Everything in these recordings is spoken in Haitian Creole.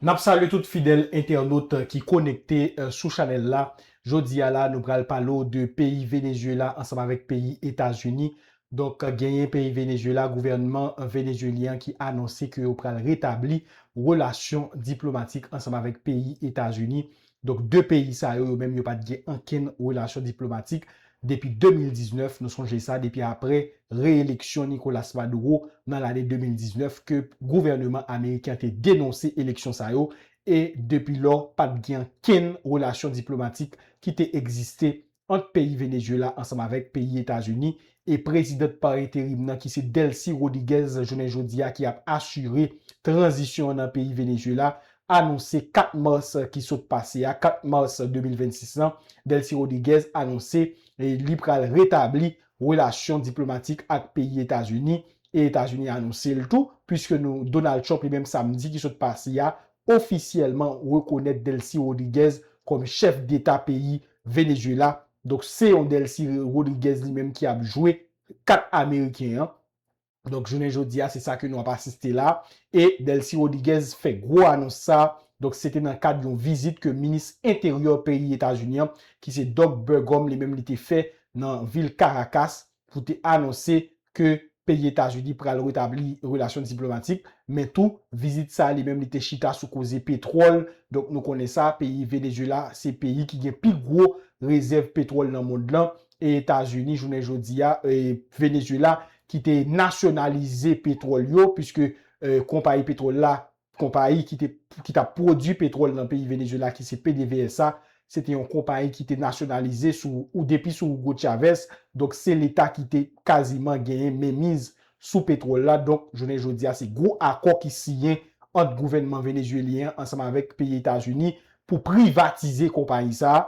Nap salye tout fidèl entènot ki konekte sou chanèl la, jodi a la nou pral pale w de peyi Venezuela ansanm avèk peyi Etazini, donk genyen peyi Venezuela gouvènman Venezuelyen an ki anonse ke yo pral retabli relasyon diplomatik ansanm avèk peyi Etazini Donk 2 peyi sa yo, yo menm yo pa t gen ankenn relasyon diplomatik depi 2019, nou sonje sa, depi aprè re-eleksyon Nicolas Maduro nan lane 2019 ke gouvèneman ameriken an te denonse eleksyon sa yo e depi lò pa t gen ankenn relasyon diplomatik ki te egziste ant peyi Venezuela ansanm avèk peyi Etazini e prezidant pa enterim nan ki se Delcy Rodiguez jounen jodi a ki ap asire tranzisyon an nan peyi Venezuela anonse 4 mas ki sot pase a 4 mas 2026 lan Delcy Rodiguez anonse li pral retabli relasyon diplomatik ak peyi Etazini e Etazini anonse l tou puiske nou Donald Trump li menm samdi ki sot pase a ofisyèlman rekonèt Delcy Rodriguez kòm chèf deta peyi Venezuela, donk se yon Delcy Rodriguez li menm ki ap jwe kat ameriken an, donk jounen jodi a se sa ke nou ap asiste la, e Delcy Rodriguez fè gwo anons sa, donk se te nan kad yon vizit ke minis enteryè peyi Etazini an ki se Doug Burgum li menm li te fè nan vil Caracas, pou te anonse ke peyi Etazini pral retabli relasyon diplomatik, men tou vizit sa li menm li te chita sou koze petwòl, donk nou konnen sa peyi Venezuela se peyi ki gen pi gwo rezèv petwòl nan mond lan, e Etazini jounen jodi a e Venezuela ki te nasyonalize petwòl yo, puiske konpayi petwòl la Konpayi ki te ki t ap pwodui petwòl nan peyi Venezuela ki se PDVSA, se te yon konpayi ki te nasyonalize sou ou depi sou Hugo Chavez, donk se leta ki te kaziman genyen menmiz sou petwòl la, donk jounen jodi a se gwo akò ki siyen ant gouvènman venezuelyen an ansanm avèk peyi Etazini pou privatize konpayi sa a.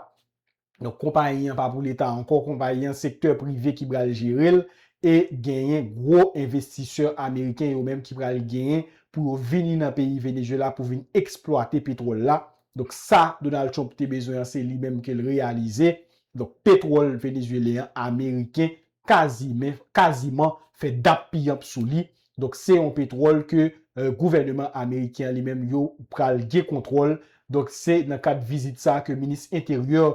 Donk konpayi an pa pou leta ankò, konpayi an sektè prive ki pral jere l e genyen gwo envestisè ameriken yo menm ki pral genyen pou yo vini nan peyi Venezuela pou vin eksplwate petwòl la. Donk sa Donald Trump te bezwen an se li menm ke l reyalize. Donk petwòl venezuelyen an ameriken kazimen kaziman fè dap piyanp sou li. Donk se yon petwòl ke gouvèneman ameriken an li menm yo pral gen kontwòl. Donk se nan kad vizit sa ke minis enteryè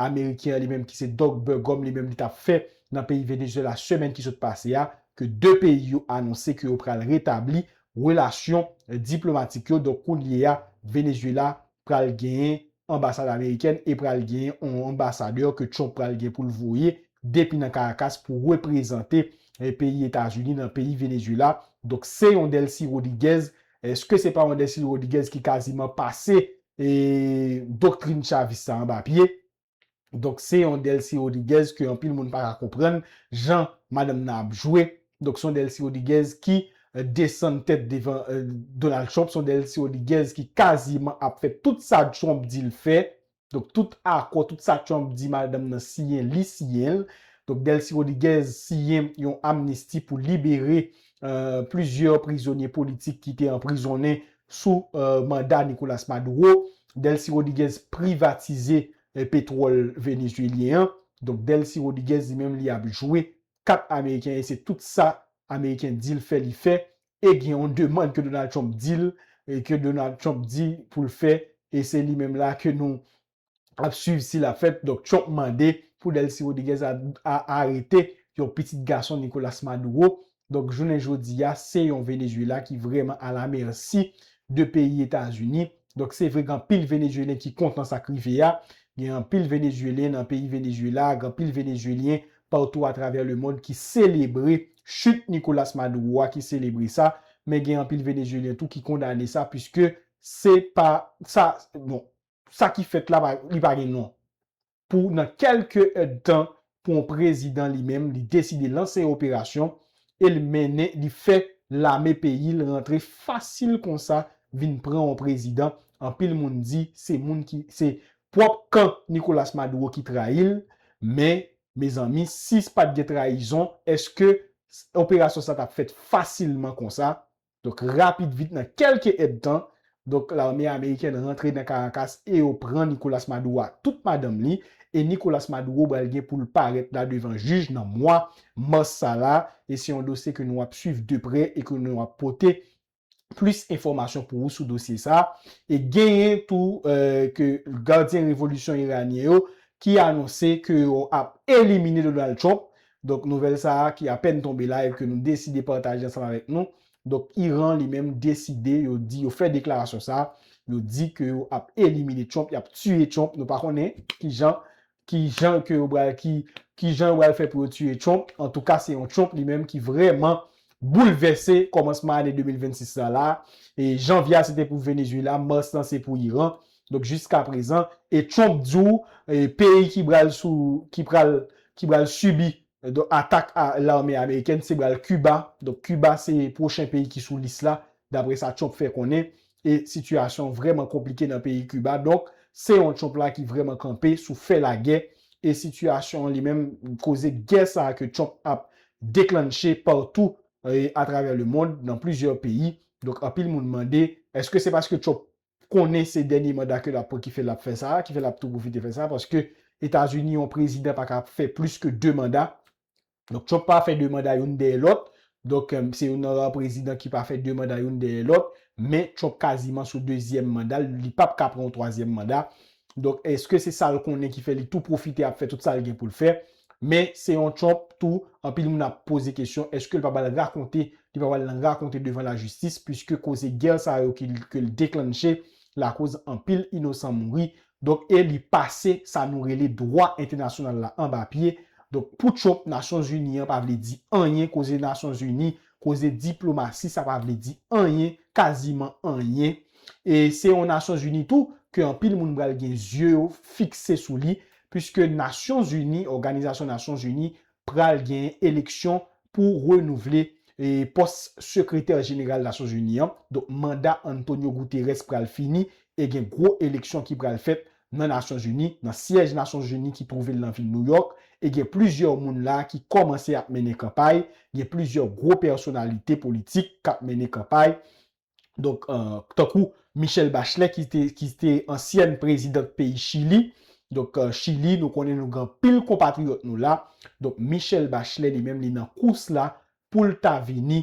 ameriken an li menm ki se Doug Burgum li menm li tap fè nan peyi Venezuela semèn ki sot pase a ke 2 peyi yo anonse ke yo pral retabli relasyon diplomatik yo. Donk kounye a Venezuela pral genyen anbasad amerikèn e pral genyen yon anbasadè ke Trump pral gen pou l voye depi nan Caracas pou reprezante peyi Etazini nan peyi Venezuela. Donk se yon Delcy Rodriguez. Eske se pa yon Delcy Rodriguez ki kaziman pase doktrin Chavist sa anba pye? Donk se yon Delcy Rodriguez ke anpil moun pa ka konprann jan madanm nan ap jwe. Donk se yon Delcy Rodriguez ki desann tèt devan Donald Trump, se yon Delcy Rodriguez ki kaziman ap fè tout sa Trump di l fè. Donk tout akò, tout sa Trump di madanm nan siyen, li siyen l. Donk Delcy Rodriguez siyen yon amnisti pou libere plizyè prizonye politik ki te anprizonnen sou manda Nicolas Maduro. Delcy Rodriguez privatize petwòl venezuelyen an. Donk Delcy Rodriguez li menm li ap jwe kat ameriken e se tout sa ameriken di l fè li fè e gen yon demand ke Donald Trump di l e ke Donald Trump di pou l fè e se li menm la ke nou ap swiv si l ap fèt. Donk Trump mande pou Delcy Rodriguez a arete yon pitit gason Nicolas Maduro Donk jounen jodi a se yon Venezuela ki vrèman a la mèsi de peyi Etazini. Donk se vre gen anpil Venezuelyen ki kontan sa k rive a. Gen anpil Venezuelyen nan peyi Venezuela, gen anpil Venezuelyen patou atravè lemond ki selebre chit Nicolas Maduro a, ki selebre sa. Men gen anpil Venezuelyen tou ki kondane sa piske se pa sa, bon, sa ki fèt la pa, li pa gen non. pou nan kelke èdtan pou yon prezidan li menm li deside lanse yon operasyon e l mennen li fè lame peyi l rantre fasil konsa vin pran yon prezidan anpil moun di se moun ki se pwòp kan Nicolas Maduro ki trayi l men mezanmi si pat gen trayizon eske operasyon sa tap fèt fasilman konsa Donk rapid vit nan kelke èd tan, donk lame amerikèn rantre nan Karakas e yo pran Nicolas Maduro ak tout madanm li, e Nicolas Maduro bal gen poul parèt la devan jij nan mwa Mars sa la, e se yon dosye ke nou ap swiv de prè e ke nou ap pote plis enfòmasyon pou ou sou dosye sa, e genyen tou ke gadyen revolisyon iranyen yo ki anonse ke yo ap elimine Donald Trump Donk nouvèl sa a ki apèn tonbe la e ke nou deside pataje ansanm avèk nou, donk Iran li menm deside yo di yo fè deklarasyon sa a, yo di ke yo ap elimine Trump, y ap tiye Trump, nou pa konnen ki jan, ki jan ke yo pral, ki, ki jan yo pral fè pou yo tiye Trump, antouka se yon Trump li menm ki vrèman boulvèse kòmansman ane 2026 la la a, e Janvye a se te pou Venezuela, Mars lan se pou Iran, Donk jiska prezan e Trump di w peyi ki bral sou ki pral ki bral sibi donk atak lame amerikèn se bral Kiba donk Kiba se pwochen peyi ki sou lis la dapre sa Trump fè konnen e sitiyasyon vrèman konplike nan peyi Kiba donk se yon Trump la ki vrèman kanpe sou fè lagè e sitiyasyon an li menm koze gè sa ke Trump ap deklannche patou atravè lemond nan plizyè peyi donk anpil moun mande èske se paske Trump konnen se dènye manda ke lap pran ki fè lap fè sa, ki fè lap tou pwofite fè sa paske Etazini yon prezidan pa ka fè plis ke 2 manda. Donk Trump pa fè 2 manda youn dèyè lòt. Donk se youn nan ra prezidan ki pa fè 2 manda youn dèyè lòt. Men Trump kaziman sou dezyèm manda l, li pap ka pran yon twazyèm manda. Donk eske se sa l konnen ki fè li tou pwofite ap fè tout sa l gen pou l fè? Men se yon Trump tou anpil moun ap poze kesyon eske l pa pral rakonte, li pa pral nan rakonte devan lajistis puiske koze gè sa yo ke l deklannche lakoz anpil inosan mouri. Donk e li pase sa nou rele dwa entènasyonal la anba pye. Donk pou Trump Nasyonzini an pa vle di anyen koze Nasyonzini Koze diplomasi sa pa vle di anyen, kaziman anyen. E se yon Nasyon Zini tou ke anpil moun pral gen zye yo fikse sou li, piske Nasyon Zini, Òganizasyon Nasyon Zini pral gen eleksyon pou renouvle pòs Sekretè Jeneral Nasyon Zini an. Donk manda Antonio Guterres pral fini e gen gwo eleksyon ki pral fèt nan Nasyonzini, nan syèj Nasyonzini ki twouve l nan vil Nouyòk, e gen plizyè moun la ki kòmanse ap mennen kanpay, gen plizyè gwo pèsonalite politik k ap mennen kanpay, donk tankou Michelle Bachelet ki te ki te ansyèn prezidant peyi Chili, donk Chili nou konnen nou gen anpil konpatriyòt nou la, donk Michelle Bachelet li menm li nan kous la pou l ta vini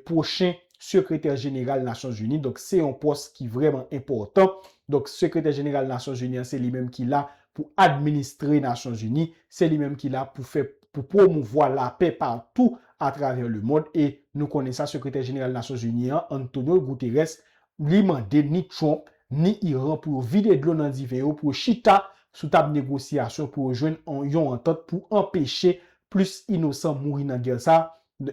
pwochen sekretè jeneral nasyon zini donk se yon pòs ki vrèman enpòtan donk sekretè jeneral nasyon zini an se li menm ki la pou administre nasyon zini se li menm ki la pou fè pou pwomouvwa lapè patou atravè lemond e nou konnen sa sekretè jeneral nasyon zini an Antonio Guterres Li mande ni Trump, ni Iran pou yo vide dlo nan diven yo pou yo chita sou tab negosyasyon pou yo jwenn yon antant pou anpeche plis inosan mouri nan gè sa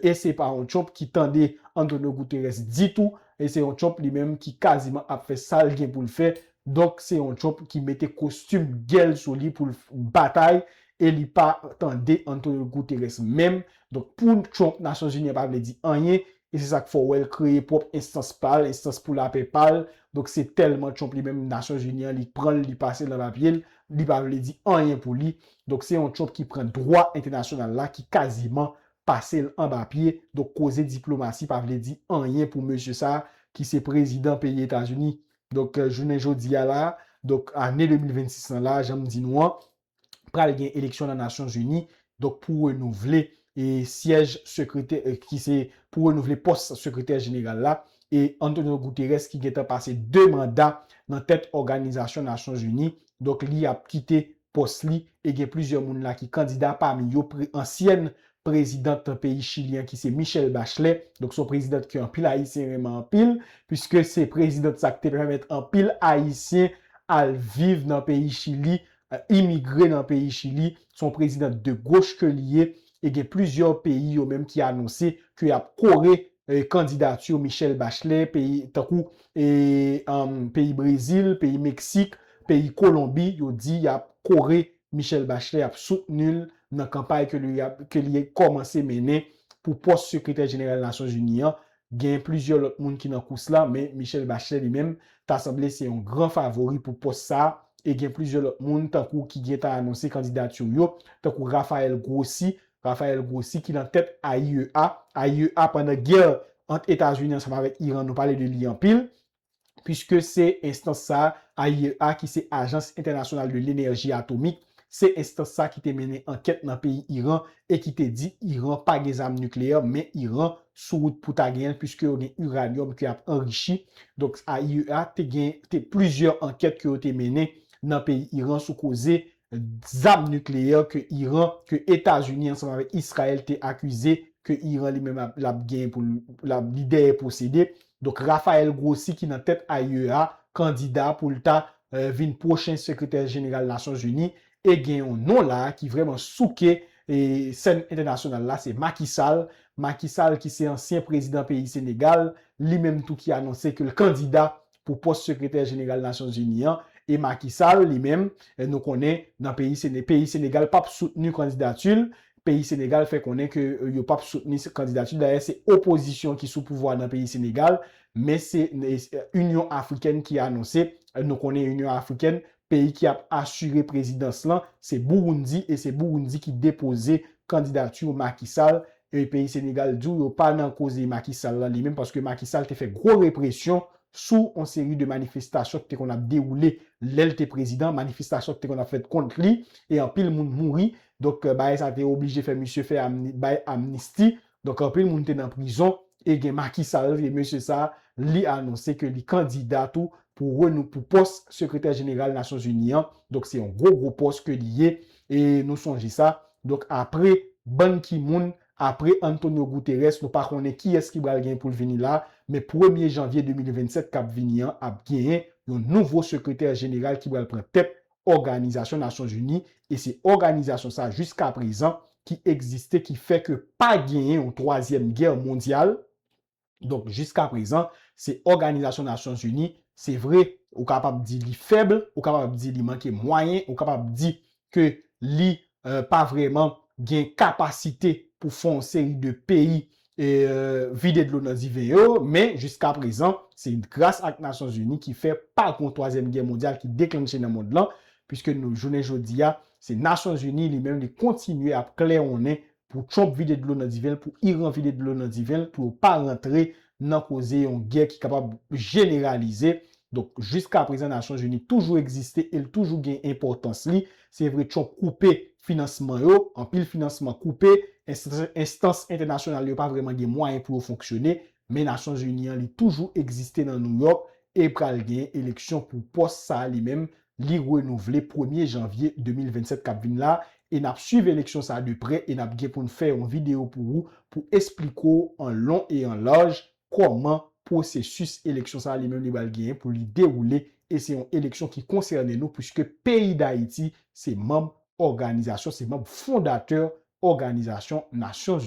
e se pa yon Trump ki tande Antonio Guterres ditou e se yon Trump li menm ki kaziman ap fè sa l gen pou l fè donk se yon Trump ki mete kostim gè l sou li pou l batay e li pa tande Antonio Guterres menm donk pou Trump Nasyonzini an pa vle di anyen E se sa k fè w wè l kreye pwòp enstans pa l, enstans pou lapè pa l. Donk se tèlman Trump li menm Nasyonzini an li pran l, li pase l nan papye l, li pa vle di anyen pou li. Donk se yon Trump ki pran dwa entènasyonal la ki kaziman pase l anba pye. Donk koze diplomasi pa vle di anyen pou mesye sa a ki se prezidan peyi Etazini. Donk jounen jodi a la a, donk ane 2026 lan la a, jan m di nou an, pral gen eleksyon nan Nasyon Zini, donk pou renouvle e syèj sekretè ki se pou renouvle pòs sekretè jeneral la e Antonio Guterres ki gentan pase 2 manda nan tèt òganizasyon Nasyon Zini, donk li ap kite pòs li e gen plizyè moun la ki kandida pami yo pre ansyèn prezidant peyi Chili an ki se Michelle Bachelet, donk se yon prezidant ke anpil ayisyen renmen anpil puiske se prezidant sa ki te pèmèt anpil ayisyen al viv nan peyi Chili imigre nan peyi Chili, se yon prezidan de goch ke li ye, e gen plizyè peyi yo menm ki anonse ke yap kore kandidati Michelle Bachelet, peyi tankou peyi Brezil, peyi Meksik, peyi Kolonbi, yo di yap kore Michelle Bachelet, yap soutni l nan kanpay ke li kòmanse mennen pou pòs sekretè jeneral Nasyon Zini an, Genyen plizyè lòt moun ki nan kous la men Michelle Bachelet li menm ta sanble se yon gran favori pou pòs sa a e gen plizyè lòt moun tankou ki gentan anonse kandidati yo tankou Raphaël Grossi, Raphaël Grossi ki nan tèt AIEA, AIEA pandan gè ant Etazini ansanm avèk Iran nou pale de li anpil. Piske se enstans sa, AIEA, ki se Ajans Entènasyonal de Lenèji Atomik, se enstans sa ki te mennen ankèt nan peyi Iran e ki te di Iran pa gen zam nikleyè men Iran sou wout pou ta genyen l piske yo gen uranium ke yap anrichi. Donk AIEA te gen te plizyè ankèt ke yo te mennen nan peyi Iran sou koze zam nikleyè ke Iran, ke Etazini ansanm avèk Israel te akize ke Iran li menm ap, lap genyen pou l, lap, li dèyè posede. Donk Rafael Grossi ki nan tèt AIEA, kandida pou l ta vin pwochen sekretè jeneral Nasyon Zini e gen yon non la a ki vrèman souke sèn entènasyonal la se Macky Sall. Macky Sall ki se ansyen prezidan peyi Senegal, li menm tou ki anonse ke l kandida pou pòs sekretè jeneral Nasyon Zini an e Macky Sall li menm nou konnen nan peyi Sene peyi Senegal pap soutni kandidati l, peyi Senegal fè konnen ke yo pap soutni kandidati l dayè se opozisyon ki sou pouvwa nan peyi Senegal men se Inyon Afrikèn ki anonse nou konnen Inyon Afrikèn Peyi ki ap asire prezidans lan se Burundi e se Burundi ki depoze candidature Macky Sall e peyi Senegal di w yo pa nan koze Macky Sall lan li menm paske Macky Sall te fè gwo represyon sou on seri de manifestasyon ki te konn ap dewoule lè l te prezidan, manifestasyon ki te konn ap fèt kont li e anpil moun mouri donk bagay sa te oblije fè misye fè amni bay amnisti Donk anpil moun te nan prizon e gen maki sa yo e mesye sa li anonse ke li kandida tou pou renou pou pòs sekretè jeneral nasyon zini an donk se yon gwo gwo pòs ke li ye e nou sonje sa donk apre ban ki moun apre Antonio Guterres nou pa konnen kiyès ki bal gen pou l vini la men premye janvye 2027 kap vini an ap gen yon nouvo sekretè jeneral ki bal pran tèt Òganizasyon Nasyon Zini e se òganizasyon sa jiska prezan ki egziste ki fè ke pa genyen yon twazyèm gè mondyal, donk jiska prezan se Òganizasyon Nasyon Zini se vre ou kapab di li fèb, ou kapab di li manke mwayen, ou kapab di ke li pa vrèman gen kapasite pou fè yon seri de peyi vide dlo nan diven yo, men jiskaprezan se gras ak Nasyonzini ki fè pa gon twazyèm gè mondyal ki deklanche nan mond lan, piske jounen jodi a se Nasyonzini li menm li kontinye ap klèwonnen pou Trump vide dlo nan diven l, pou Iran vide dlo nan diven l, pou yo pa rantre nan koze yon gè ki kapab jeneralize. Donk jiskaprezan Nasyonzini toujou egziste e l toujou gen enpòtans li, Se vre Trump koupe finansman yo, anpil finansman koupe, enstans entènasyonal yo pa vrèman gen mwayen pou yo fonksyone, men Nasyon Zini an li toujou egziste nan New York e pral genyen eleksyon pou pòs sa li menm li renouvle premye janvye 2027 kap vin la e nap swiv eleksyon sa de prè e nap gen poun fè yon videyo pou ou pou espliko w an lon e an laj kòman pwosesis eleksyon sa a li menm li pral genyen pou li dewoule e se yon eleksyon ki konsène nou puiske peyi Dayiti se manb òganizasyon, se manb fondatè òganizasyon Nasyon.